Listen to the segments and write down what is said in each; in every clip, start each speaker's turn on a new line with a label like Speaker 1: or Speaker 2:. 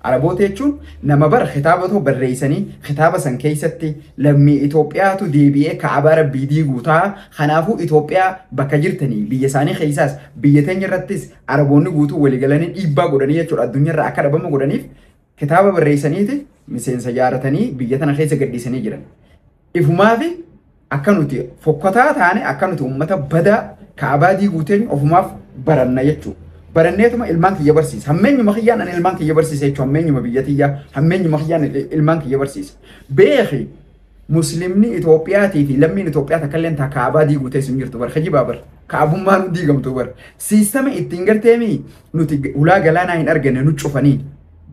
Speaker 1: Araboota jechuun nama bar kitaaba too barreeysanii kitaaba san keeysatti lammii Itoophiyaatu deebi'ee ka'abaa rabbii diiguu ta'a kanaafuu Itoophiyaa bakka jirtanii biyya isaanii keeysaas biyya teenya irrattis Araboonni guutuu wali galanii dhiibbaa godhanii jechuudha addunyaa irraa akka dhabamu godhaniif kitaaba barreeysaniiti miseensa jaaratanii biyya tana keeysa gadhiisanii jiran. Ifumaafi akka nuti fokkotaa taane akka nuti uummata badaa kaabaa diiguu teenya ofumaaf baranna jechuudha. Baranneetuma ilmaan kiyya barsiisa. Hammeenyuma kiyyaan ani ilmaan kiyya barsiisa jechuudha. Hammeenyuma biyya tiyyaa hammeenyuma kiyyaan ilmaan kiyya barsiisa. Beeki muslimni Itoophiyaatii fi lammiin Itoophiyaa takka illee taa kaabaa diiguu teessu hin jirtu bar kijibaa bar kaabummaan nu diigamtu bar siistama ittiin garteemi nuti ulaa galaanaa hin arganne nu cufanii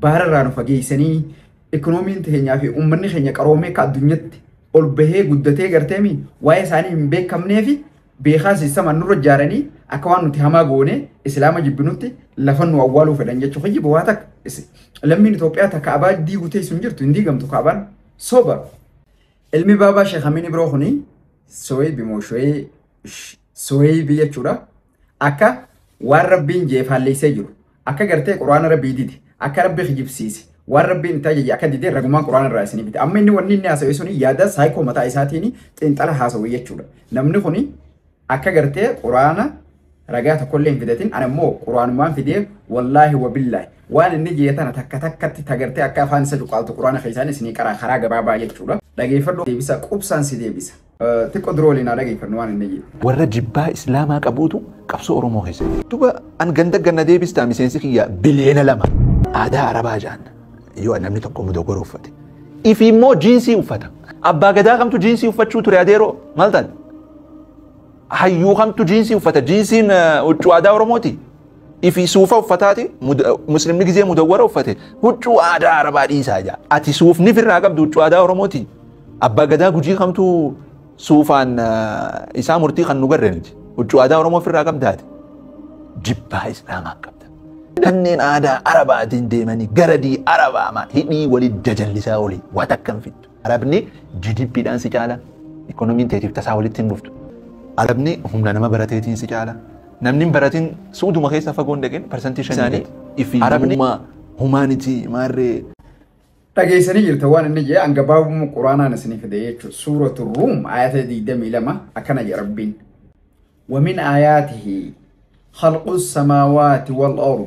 Speaker 1: baararraa nu fageessanii Economiin teenyaa fi uummanni keenya qaroomee akka addunyatti ol bahee guddatee garteemi waa'ee isaanii hin beekamnee fi beekaa siistama nurra ijaaranii akka waan nuti hamaa goonee islaama jibbinutti lafa nu awwaaluu fedhan jechuu kiyyi bowaa takka isi- lammiin Itoophiyaa takka abaa diiguu teessu hin jirtu hin diigamtu kaabaan soba ilmi baabaa sheekamiin ibroo kuni soweebi moo showeebi jechuudha. akka waan rabbiin jee faalleessee jiru akka gartee quraana rabbii dide akka rabbi kijibsiise waan rabbiin itti ajaje akka dide ragumaan quraana irraa isinii bite amma inni wanni inni haasawee suni yaada saayikoo mataa isaatiin xiinxala haasawee jechuudha namni kuni akka gartee quraana ragaa tokkollee hin fidatin ana immoo quraanumaan fidee wallaahi wabillaahi waan inni jee tana takka takkatti tagartee akka afaan isa cuqaaltu quraana keessaan isinii qaraa karaa gabaabaa jechuudha dhageeffadhu deebisa qubsaan si deebisa Xiqqo dura waliin haa dhageeffannu waan inni jedhu. Warra jibbaa
Speaker 2: Islaamaa qabuutu qabsoo Oromoo keessa jira. Duba an ganda ganna deebistaa miseensi kiyya biliyeena lama. Aadaa Arabaa jaan yoo namni tokko mudogora uffate. Ifi immoo jiinsii uffata. Abbaa gadaa kamtu jiinsii uffachuu ture adeeroo maal taate? Hayyuu kamtu jiinsii uffata? Jiinsiin huccuu aadaa Oromooti. fi suufa uffataati muslimni gizee mudawwara uffate huccuu aadaa arabaa dhiisaa jaa ati suufni firraa qabdu huccuu aadaa oromooti abbaa gadaa gujii kamtu suufaan isaa murtii kan nu garre nuti huccuu aadaa oromoo firraa qabdaati jibbaa islaamaa qabda kanneen aadaa arabaatiin deemanii garadii arabaamaa hidhii walii jajallisaa olii waa takkan fiddu Arabni GDP dhaan si caala. Ikoonomiin teetiif tasaa walitti hin dhuftu. Arabni humna nama barateetiin si caala. Namni hin baratin suuduma keessa fagoon dhaqin parsantii shan isaanii ifi arabni humaanitii maarree
Speaker 1: Dhageessanii jirta waan inni jedhe hanga baabuma quraanaan isinii fide jechuudha. Suuratu Ruum ayata 22 akkana jedha Rabbiin. Wamin ayaatihi khalqu samaawaati wal ardi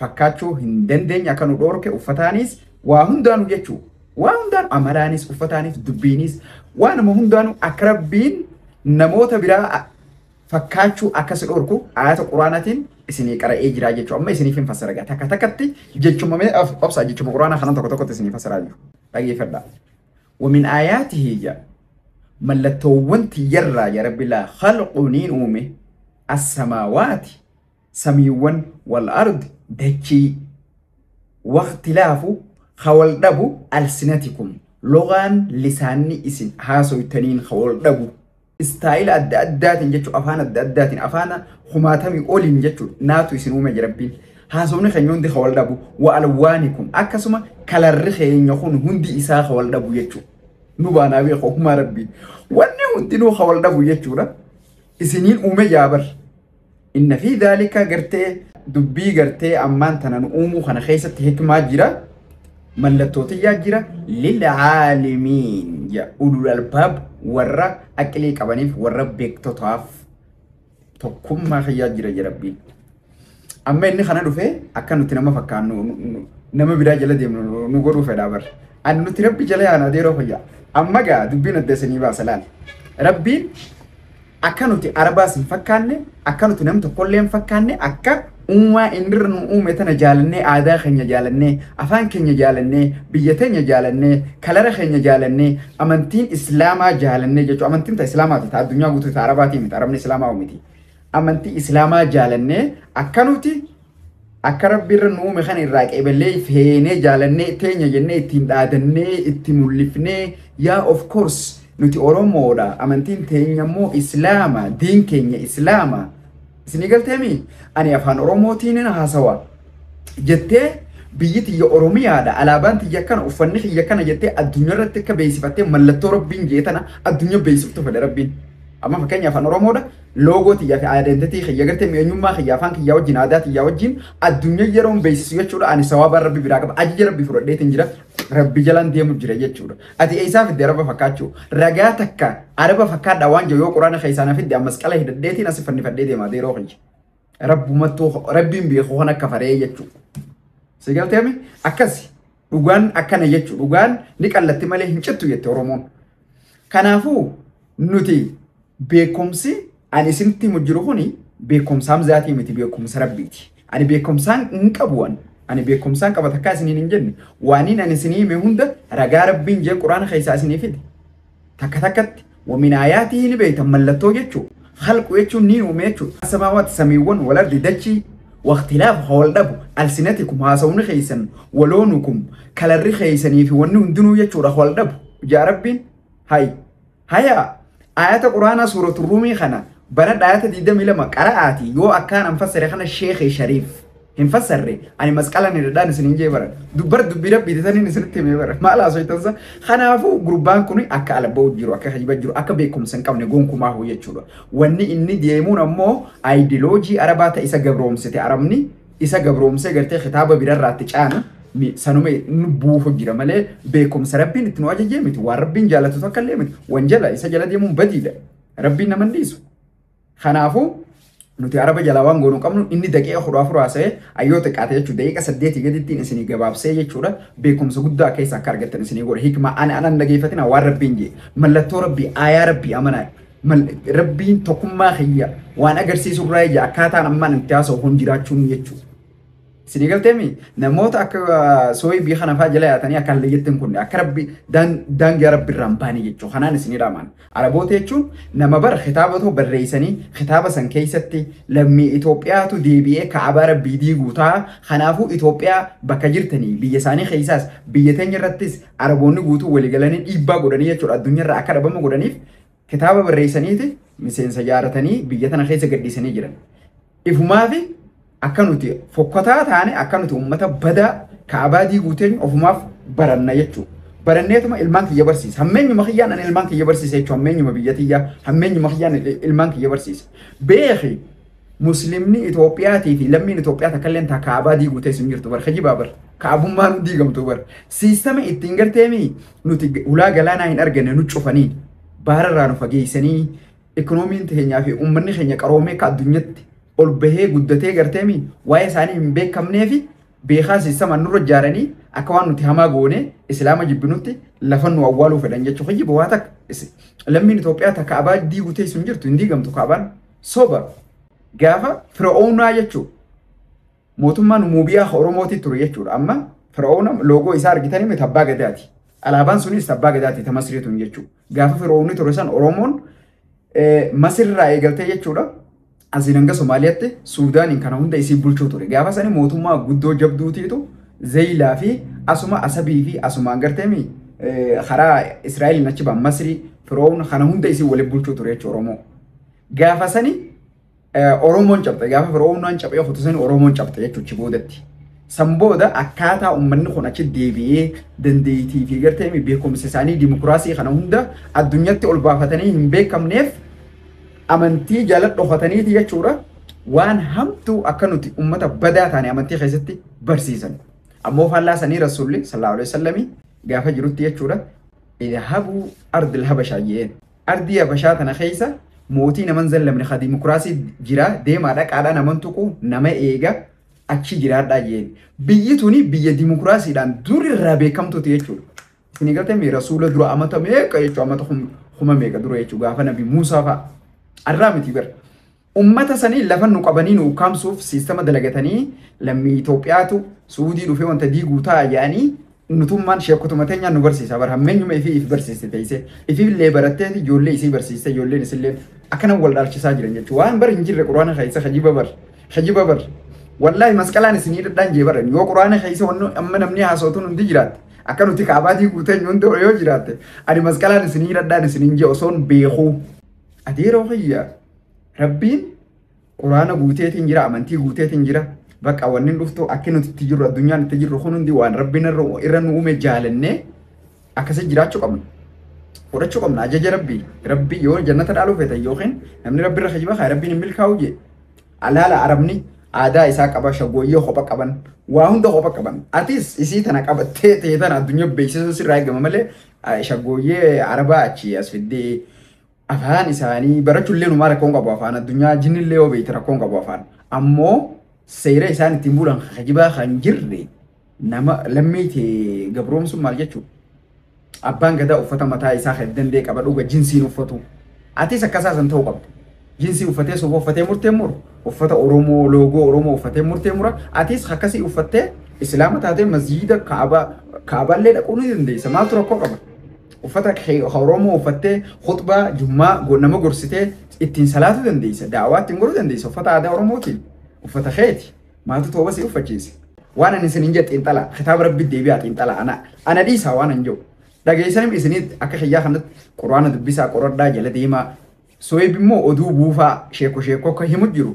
Speaker 1: fakkaachuu hin dandeenye akka nu dhoorke uffataaniis waa hundaanu jechuu waa hundaan amalaanis uffataaniis dubbiiniis waanuma hundaanu akka rabbiin namoota biraa fakkaachuu akka si dhoorku ayata quraanaatiin isinii qara'ee jiraa jechuu amma isiniif hin fassara gaa takka takkatti jechuma mee of- obsaa jechuma quraanaa kanan tokko tokkotti isinii fassaraa jiru dhageeffadhaa wamin ayaatihi jaa mallattoowwan tiyyarraa yaa rabbi laa khalqu niin uume assamaawaati samiiwwan wal ard dachii waqtilaafu ka wal dhabu alsinatikum logaan lisaanni isin haasoytaniin ka wal dhabu istaayila adda addaatiin jechuun afaan adda addaatiin afaana kumaatamii oliin jechuun naatu isin uume jirabbiin haasofni keenya hundi ka wal dhabu wa alwaanikum akkasuma kalarri keenya kun hundi isaa ka wal dhabu jechuudha. nu baanaa beeku humaa rabbii wanni hundinuu ka wal dhabu jechuudha isiniin uume jaabar Inna fi daalika gartee dubbii gartee ammaan tana nu uumuu kana keessatti hikmaa jira. Mallattootiyaa jira. Lil'aalimiin jedha. Ulul albaab warra aqilii qabaniif warra beektotaaf tokkummaa kiyyaa jira jedha rabbiin. Amma inni kana dhufee akka nuti nama fakkaannu nu- nu- nama biraa jala deemnu nu- nu godhuu fedhaa barra. Ani nuti rabbi jala yaana adeeroo fayyaa. Amma gaa dubbiin adda isinii baasa laali. Rabbiin Akka nuti arbaas hin fakkaanne, akka nuti nam tokkollee hin fakkaanne, akka uumaa inni irra nu uume tana jaalannee, aadaa keenya jaalannee, afaan keenya jaalannee, biyya teenya jaalannee, kalara keenya jaalannee, amantiin islaamaa jaalannee jechuu amantiin ta islaamaati ta addunyaa guutuuti ta arabaatii miti arabni islaamaawu miti amantii islaamaa jaalannee akka nuti Akka rabbi irra nu uume kana irraa qeeballee feenee jaalannee teenya jennee ittiin dhaadannee itti mul'ifnee yaa of course nuti Oromoodha amantiin teenya immoo Islaama diin keenya Islaama isinii galteemi ani afaan Oromootiin haasawa jettee biyyi tiyya Oromiyaadha alaabaan tiyya kana uffanni kiyya kana jettee addunyaa irratti akka beeksifattee mallattoo rabbiin jee tana addunyaa beeksiftu fedha rabbiin amma fakkeenya afaan Oromoodha Loogoo tiyyaa fi identity kiyya garte mi eenyummaa kiyya afaan kiyyaa wajjin aadaa tiyyaa wajjin addunyaa yeroon beeksisu jechuudha ani sawaabaa rabbi biraa qaba ajija rabbi fudhadheetiin jira rabbi jalaan deemu jira jechuudha ati eessaa fidde araba fakkaachuu ragaa takka araba fakkaadhaa waan jiru yoo quraana keessaan fidde ammas qala hidhadheetiin asi fannifadhee deemaa deeroo kiyya rabbumattuu rabbiin beeku kan akka faree jechuudha si galteemi akkasi Dhugaan akkana jechu dhugaan ni qallatti malee hin cittu jette Oromoon. Kanaafuu nuti beekumsi ani isinitti himu jiru kuni beekumsa hamzaatii miti beekumsa rabbiiti. Ani beekumsaan hin qabu waan. Ani beekumsaan qaba takkaa isiniin hin jenne. Waaniin ani isinii hime hunda ragaa rabbiin jee quraana keessaa isinii fide. Takka takkatti wa min aayaatihi ni beeytan mallattoo jechuu khalqu jechuun ni uume jechuudha. Assamaawaati samiiwwan wal ardi dachii waqtilaafu ka wal dhabu alsinatikum haasawni keeysan waloonukum kalarri keeysanii fi wanni hundinuu jechuudha ka wal dhabu ja'a rabbiin hay hayaa aayata quraanaa suuratu ruumii kana banadha aayata 22 qara'aati yoo akkaanan fassare kana sheekhi shariif hin fassarre ani masqalan irradhaan isin hin jee bara dubbar dubbii rabbiiti saniin isinitti himee bara maal haasoytansa kanaafuu gurbaan kun akka alabba'u jiru akka hajiba jiru akka beekumsa hin qabne gonkumaa hoo jechuudha wanni inni deemuun ammoo ayidiloojii arabaa ta isa gabroomsite arabni isa gabroomsee gartee kitaaba birarraatti caana ni- sanuma nu buufu jira malee beekumsa rabbiin itti nu ajajee miti waan rabbiin jaalatu takka illee miti wanjala isa jala deemuun badiidha rabbiin nama hin dhiisu Kanaafu nuti araba jalaa waan goonu qabnu inni daqiiqa kudha afur haasa'ee ayyoo xiqqaate jechuudha daqiiqa saddeetii gadittiin isinii gabaabsee jechuudha beekumsa guddaa akka isa akka argattan isinii godha hikmaa ani anan dhageeffatina waan rabbiin jee mallattoo rabbii aayaa rabbii amanaa rabbiin tokkummaa kiyya waan agarsiisu irraa ija akkaataan ammaan itti haasa'u kun jiraachuun jechuudha. Isinii galteemi namoota akka sooyii biyya kana fa'aa jala yaatanii akka hallee jettan kun akka rabbi daangaa rabbi irraan baanii jechuudha. Kanaan isinii dhaamaan. Araboota jechuun nama bara kitaaba tokko barreessanii kitaaba san keessatti lammii Itoophiyaatu deebi'ee kaabaa rabbii diiguu ta'a. Kanaafuu Itoophiyaa bakka jirtanii biyya isaanii keessaas biyya teenya irrattis Araboonni guutuu waliigalanii dhiibbaa godhanii jechuudha addunyaa irraa akka dhabamu godhaniif Kitaaba barreessaniiti miseensa jaaratanii biyya tana keessa gadhiisanii jiran. Ifumaafi akka nuti fokkotaa taane akka nuti uummata badaa kaabaa diiguu teenyu ofumaaf baranna jechuudha. Baranneetuma ilmaan kiyya barsiisa. Hammeenyuma kiyyaan ani ilmaan kiyya barsiisa jechuudha. Hammeenyuma biyya tiyyaa hammeenyuma kiyyaan ilmaan kiyya barsiisa. Beeki Muslimni Itoophiyaatii fi lammiin Itoophiyaa takkalleen taa kaabaa diiguu teessu hin jirtu bar kijibaa bar kaabummaan hin diigamtu bar siistama ittiin garteemi nuti ulaa galaanaa hin arganne nu cufanii baararraa nu fageessanii ikoonomiin keenyaa fi uummanni keenya qaroomee akka addunyatti ol bahee guddatee garteemi waa'ee isaanii hin beekamnee fi beekaa siistama nurra ijaaranii akka waan nuti hamaa goone islaama jibbinutti lafa nu awwaaluu fedhan jechuu kijiba waa takka lammiin Itoophiyaa takka abaa diiguu teessu hin jirtu hin diigamtu kaabaan. Soba. Gaafa Fira'oonaa jechuun mootummaan Muubiyaa Oromootii ture jechuudha. Amma Fira'oona loogoo isaa argitanii miti abbaa gadaati. Alaabaan sunis abbaa gadaati ta Masrii tun jechuudha. Gaafa Fira'oonni ture san Oromoon Masirraa eegaltee jechuudha. Asiin hanga Somaaliyaatti Suudaaniin kana hunda isii bulchuu ture. Gaafa sani mootummaa guddoo jabduutiitu Zeeyilaa fi asuma Asabii fi asumaan garteemi karaa Israa'eliin achi ba'an Masrii Fira'oon kana hunda isii waliin bulchuu ture jechuudha Oromoo. Gaafa sani Oromoon cabxe gaafa Firoomnaan caphee kutu sani Oromoon cabxe jechuuchi boodatti. San booda akkaataa uummanni kun achi deebi'ee dandeettii fi gartee beekumsa isaanii dimokiraasii kana hunda addunyatti ol baafatanii hin beekamneef amantii jala dhokataniiti jechuudha. Waan hamtuu akka nuti uummata badaa taane amantii keessatti barsiisan. Ammoo faallaa sanii rasuulli sallallahu alaihi wasallamii gaafa jirutti jechuudha. Idhabuu ardil habashaa jeen. Ardii Habashaa tana keessa mootii nama hin zallamne ka dimokiraasii jira deemaa dhaqaadhaa nama hin tuqu nama eega achi jiraadhaa jeen. Biyyi tuni biyya dimokiraasiidhaan dur irraa beekamtuuti jechuudha. Isin galtame rasuula dura amata meeqa jechuudha amata kuma meeqa dura jechuudha gaafa nabi Muusaa fa'a. Arraa miti bara. Ummata sanii lafa nu qabanii nu ukkaamsuuf siistama dalagatanii lammii Itoophiyaatu Suudii dhufee wanta diiguu ta'a jedhanii nutummaan sheekkotuma teenyaan nu barsiisa bar hammeenyuma ifii if barsiiste teessee ifillee barattee fi ijoollee isii barsiiste ijoolleen isilleen akkanan wal dhaalchisaa jiran jechuudha waan bar hin jirre quraana keessa hajiba bar hajiba bar wallaahi masqalaan isinii dhadhaan jee baran yoo quraana keessa wanno amma namni haasootuun hundi jiraatte akka nuti kaabaatii guutan yoon ta'u yoo jiraatte ani masqalaan isinii dhadhaan isiniin jee osoon beekuu adeeroo kiyya Rabbiin quraana guuteetiin jira, amantii guuteetiin jira. Bakka wanni dhuftu akki nuti itti jirru addunyaan itti jirru kun hundi waan rabbiin irra nu uume jaalannee akkasii jiraachuu qabna. Fudhachuu qabna ajaja rabbii. Rabbii yoo jannata dhaaluu feetan yookiin namni rabbi irra kijiba kaa rabbiin hin milkaa'u jee. Alaala arabni aadaa isaa qaba shagooyyee kopha qaban waa hunda kopha qaban. Atis isii tana qabattee ta'e tana addunyaa beeksisuu sirraa eegama malee shagooyyee arabaa achi as fiddee Afaan isaanii barachullee numaa rakkoon qabu afaan addunyaa jinnillee yoo beekte rakkoon qabu afaan ammoo seera isaan ittiin bulan hajibaa kan jirre nama lammii tee gabroomsuun maal jechuu abbaan gadaa uffata mataa isaa kan dandee qaba dhuga jinsiin uffatu atis akkasaa san ta'uu qabda jinsii uffatee soba uffatee murtee muru uffata oromoo loogoo oromoo uffatee murtee mura atis akkasii uffattee islaama taatee masjiida kaaba kaaballee dhaquu ni dandeessa maaltu rakkoo qaba Uffata kee ka Oromoo uffattee khutbaa jummaa go- nama gorsitee ittiin salaatuu dandeessa. Daawaa ittiin godhuu dandeessa. Uffata aadaa Oromootiin. Uffata keeti. Maatu tooba si uffachiise. Waan ani isiniin jedhe xiinxala. Kitaaba rabbi deebi'aa xiinxala. Ana, ana dhiisaa waan ani jedhu. Dhageessanim isinitti akka kiyyaa kanatti quraana dubbisaa qoradhaa jala deemaa. Sohib immoo oduu buufaa sheeko sheeko akka himu jiru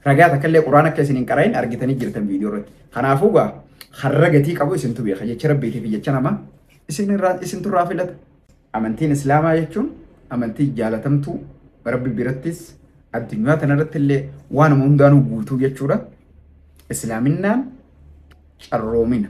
Speaker 1: ragaa takka illee quraan akka isin hin qara'in argitanii jirtan viidiyoo irratti. Kanaafuu gaa har'a gatii qabu isintu beeka jecha rabbiitii fi jecha namaa isin irraa isintu irraa filata. Amantiin Islaamaa jechuun amantii jaalatamtuu rabbi birattis addunyaa tanarratti illee waanuma hundaanuu guutuu jechuudha. Islaaminaan carroomina.